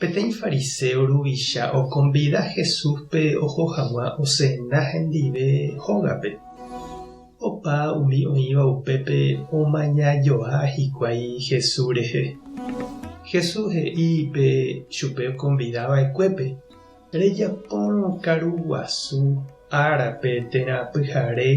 Peteĩ fariséo ruvicha okonvida Jesúspe oho hag̃ua osena hendive hógape. Opa umi oĩva upépe omaña joa hikuái Jesús rehe. Jesús he'i pe chupe okonvida va'ekuépe, Rejapórõ karu guasu árape térã pyhare.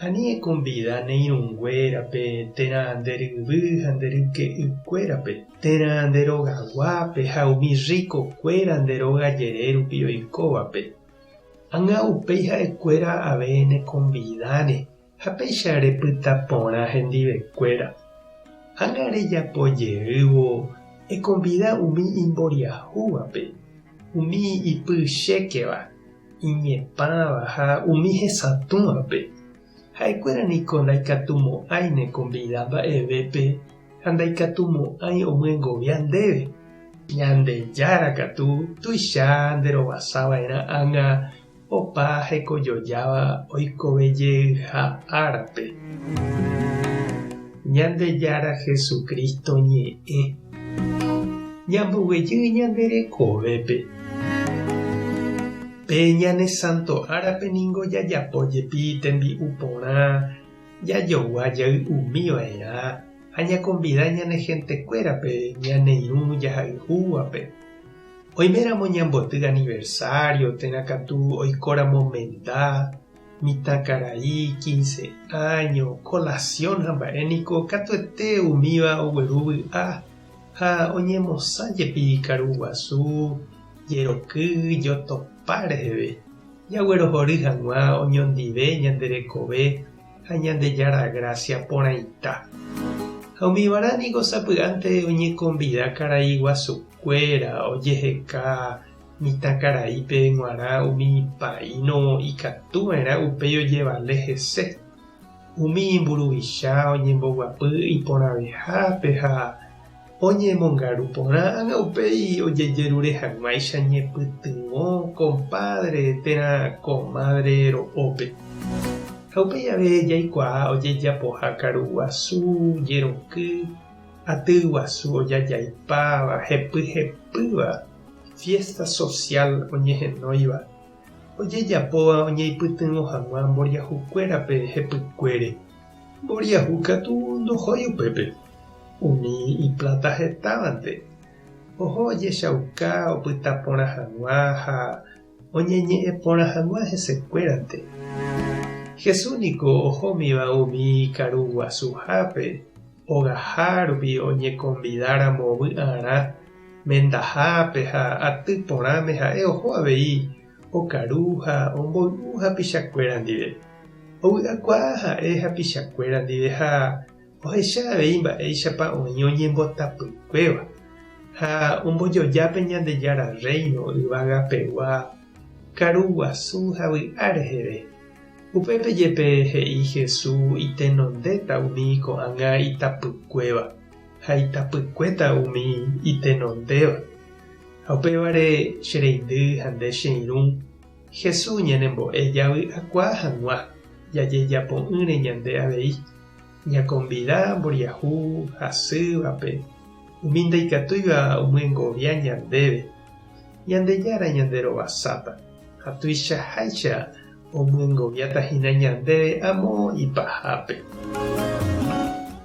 Ani ekonvida ne irũnguérape, térã nde ryvy ha nde ryke'ykuérape, térã nde rogaguápe ha umi rrikokuéra nde róga jere rupi oikóvape. Ág̃a upéi ha'ekuéra ave nekonvidáne ha péicha repyta porã hendivekuéra. Ág̃a rejapo jeývo ekonvida umi imboriahúvape, umi ipy chékeva Iñepãva ha umi hesatũvape, ha'ekuéra niko ndaikatumo'ãi ne konvida mba'evépe ha ndaikatumo'ãi omyengovia ndéve. Ñandejára katu tuicha nderovasava'erã ág̃a opa hekojojáva oikovejeyha árape. Ñandejára Jesucristo ñe'ẽ. Ñamboguejy ñande rekovépe. Pe ñane santo árape ningo jajapo jepi tembi'u porã, jajogua jay umi va'erã ha ñakonvida ñane hentekuérape ñaneirũ jahayhúvape. Oiméramo ñamboty aniversario térã katu oikóramo menda Mitãkarai, quince áño, colación ha mba'e niko katuete umíva ogueru vy'a ha oñemosã jepi karu guasu, jeroky, jotopa reheve. Jaguerohory hag̃ua oñondive ñande rekove ha Ñandejára grásia porãita. Ha umívarã niko sapy'ánte oñekonvida karai guasukuéra ojeheka Mitãkaraípe g̃uarã umi paíno ikatu va'erã upéi ojevale hese. Umi imburuvicha oñemboguapy iporãvehápe ha oñemongaru porã ág̃a upéi ojejerure hag̃uáicha ñepytyvõ kompádre térã komádre ro'ópe. Ha upéi jave jaikuaa ojejapoha karu guasu, jeroky, aty guasu ojajaipáva, hepyhepýva, Fiésta sosiál oñehenóiva ojejapóva oñeipytyvõ hag̃ua mboriahukuérape hepykuére. Mboriahu katu ndohói upépe, umi ipláta hetávante oho ojechauka opyta porã hag̃ua ha oñeñe'ẽ porã hag̃ua hesekuérante. Jesús niko ohómiva umi karu guasuhápe ogaha rupi oñekonvidáramo vy'arã mendahápe ha aty porãme ha'e oho avei okaru ha omboy'u hapichakuéra ndive. Ovy'akuaa ha'e hapichakuéra ndive ha ohecha avei mba'éichapa oĩ oñembotapykuéva ha ombojoja pe Ñandejára Rréino yvagapegua karu guasu ha vy'a reheve. Upépe jepe he'i Jesús itenondéta umi ko'ág̃a itapykuéva ha itapykuéta umi itenondéva. Ha upévare, che reindy ha nde che irũ, Jesús ñanembo'e javy'akuaa hag̃ua jajejapo'ỹre ñande avei. Ñakonvida mboriahu hasývape umi ndaikatúiva omyengovia ñandéve. Ñandejára ñanderovasáta ha tuichaháicha omyengoviáta hína ñandéve amo ipahápe.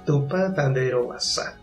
Tupã tanderovasa.